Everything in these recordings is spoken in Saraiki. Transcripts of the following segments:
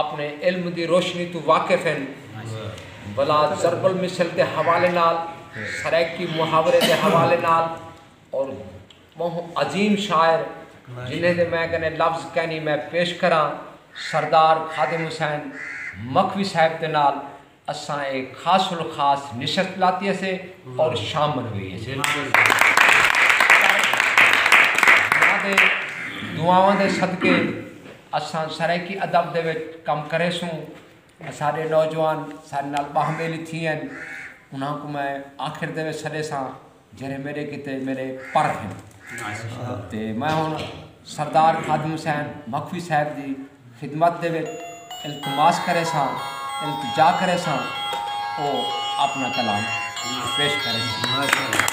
آپݨے علم دی روشنی توں واقف ہن ولا ضرب المثل دے حوالے نال، سرائیکی محاورے دے حوالے نال اور ٻہوں عظیم شاعر جنہیں دے میں کنے لفظ کینی میں پیش کراں سردار خادم حسین مکھوی صاحب دے نال۔ اساں اے خاص الخاص نشست لاتی اسے اور شامل ہوئی اسے۔ انہاں دے دعاواں دے صدقے اساں سرائیکی ادب دے وچ کم کرے سوں۔ اساڈے نوجوان ساڈے نال باہم ویلی تھی ہن۔ انہاں کوں میں آخر دے وچ سڈے ساں۔ جیرھے میڈے کیتے میڈے پر ہن تے میں ہن سردار خادم حسین مخفی صاحب دی خدمت دے وچ التماس کرے ساں التجا کرے ساں او اپنا کلام پیش کرے ساں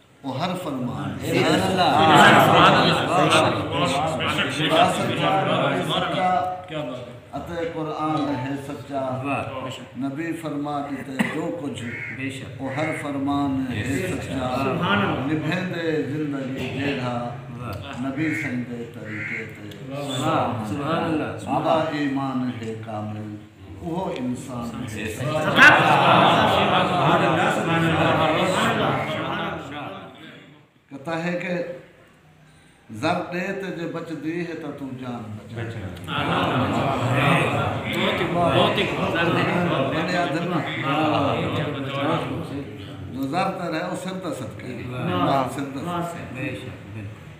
او ہر فرمان دے اتے قرآن ہے سچا نبی فرما ݙتے جو کجھ او ہر فرمان ہے سچا نبھیندے زندگی جیڑھا نبی سئیں دے طریقے تے آپݨا ایمان ہے کامل اوہو انسان کتا ہے کہ زر ڈے تے جے بچ دی ہے تاں توں جان بچائے جو زر تے رہے وہ سر دا صدقہ ہے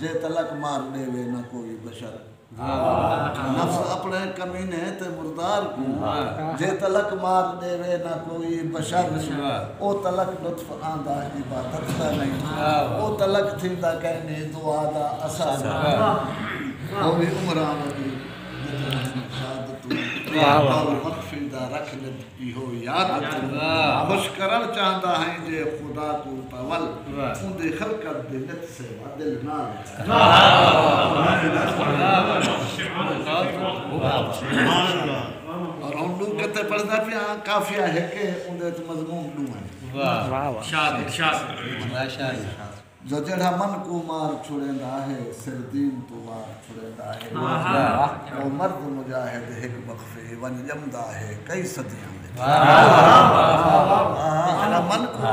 جے تلک مار ݙیوے نہ کوئی بشر نفس اپݨے کمینے تے مردار کوں جے تلک مار ݙیوے نہ کوئی بشر او تلک لطف آندا عبادت دا نئیں او تلک تھیندا کائنی دعا دا اثر او وی عمراں ودی جتھاں ہن شہادتوں ماء مقفی دا رکھ ݙت ایہو یاد خوش کرݨ چاہندا ہئیں جے خدا کوں تاں ول اوندی خلقت دے نت سے وا دل نال اور ہن ڈو کتے پڑھدا پیاں قافیہ ہک ہے اوندے وچ مضمون ڈو ہن جو جیڑھا من کوں مار چھڑیندا ہے سر دین توں وار چھڑیندا ہے او مرد مجاہد ہک وقفے ونج ڄمدا ہے کئی صدیاں وچ جیڑھا من کوں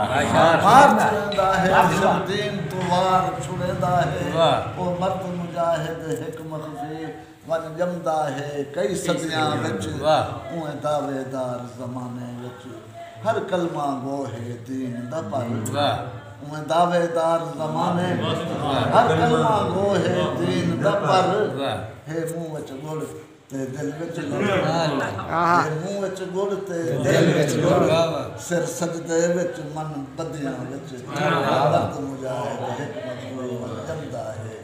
مار چھڑیندا ہے سر دین توں وار چھڑیندا ہے او مرد مجاہد ہک وقفے ونڄ ڄمدا ہے کئی صدیاں وچ اونویں دعوے دار زمانے وچ ہر کلمہ گو ہے دین دا پر اونویں دعوے دار زمانے وچ ہر کلمہ گو ہے دین دا پر ہے منہ وچ گڑ تے دل وچ لوڑ ہے منہ وچ گڑ تے دل وچ لوڑ سر سجدے وچ من بدیاں وچ مرد مجاہد ہک مظلوم ونڄ ڄمدا ہے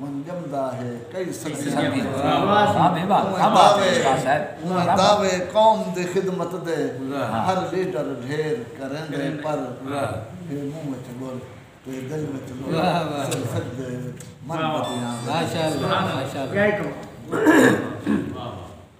ونڄ ڄمدا ہے کئی صدیاں بعد دعوے قوم دی خدمت دے ہر لیڈر ڈھیر کریندے پر ہے منہ وچ ڳل تے دل وچ لولا سر سجدے وچ من بدیاں دے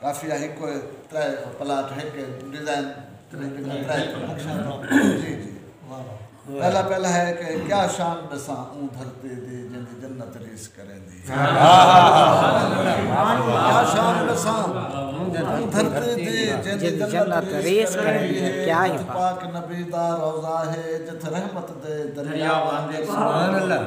کافی آ ہکو ہے ترے پلاٹ ہک ہے ڈیزائن جی جی پہلا پہلا ہے کہ کیا شان بساں اون دھرتی دی جن دی جنت ریس کریں دی کیا شان بساں اون دھرتی دی جن دی جنت ریس کریں دی کیا ہی پاک نبی دا روزہ ہے جت رحمت دے دریا واندے سبحان اللہ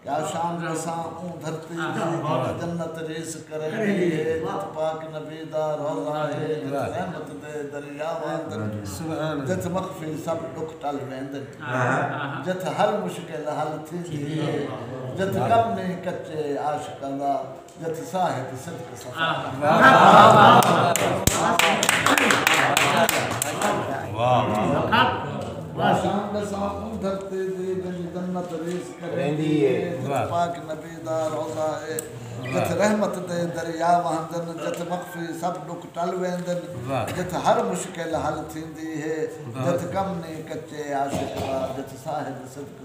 یا شام رساں اوں دھرتی دی جیڑھی جنت ریس کریندی ہے جت پاک نبی دا روضہ ہے جت رحمت دے دریا وہندن جت مخفی سب ݙکھ ٹل ویندن جت ہر مشکل حل تھیندی ہے جت کم نئیں کچے عاشقاں دا جتی ساہ ہے تے صدق صفا شان دے ساتھ اون دھرتے دے جن جنت ریز کریندی ہے جت پاک نبی دا روضہ ہے جت رحمت دے دریا وہندن جت مخفی سب ڈک ٹل ویندن جت ہر مشکل حل تھیندی ہے جت کم نی کچے عاشق دا جت صاحب صدق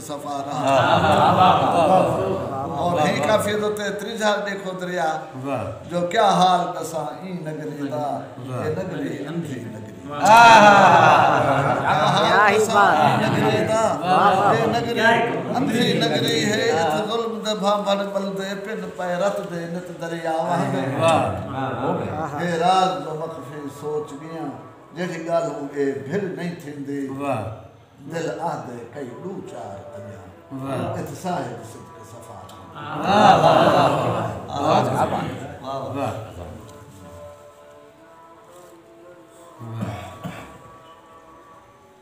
اور ہی کافی دو تے تریجھا ڈیکھو دریا جو کیا حال دساں این نگری دا اے نگری اندھی نگری ہے ات ظلم دے بھاں بھر بل دے پن پائے رت دے نت دریا وہاں دے اے راز جو مخفی سوچ گیا جیڑی گالوں اے بھر نہیں تھی دی دل آہدے کئی ڈو چار اجاں ات صاحب صدق صفا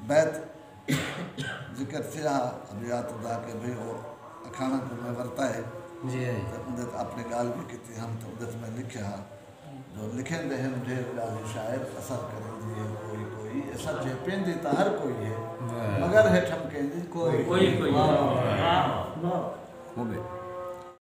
بیت ذکر تھیا ابیات دا کہ بھئی او اکھانا کو میں ورتا ہے جی اندے اپنے گال بھی کیتی ہم تو اندے میں لکھیا لکھیندے ہن ڈھیر ڈاہی شاعر اثر کریندی ہے کوئی کوئی اے سچ ہے پیندی تاں ہر کوئی ہے مگر ہے ٹھمکیندی کوئی کوئی۔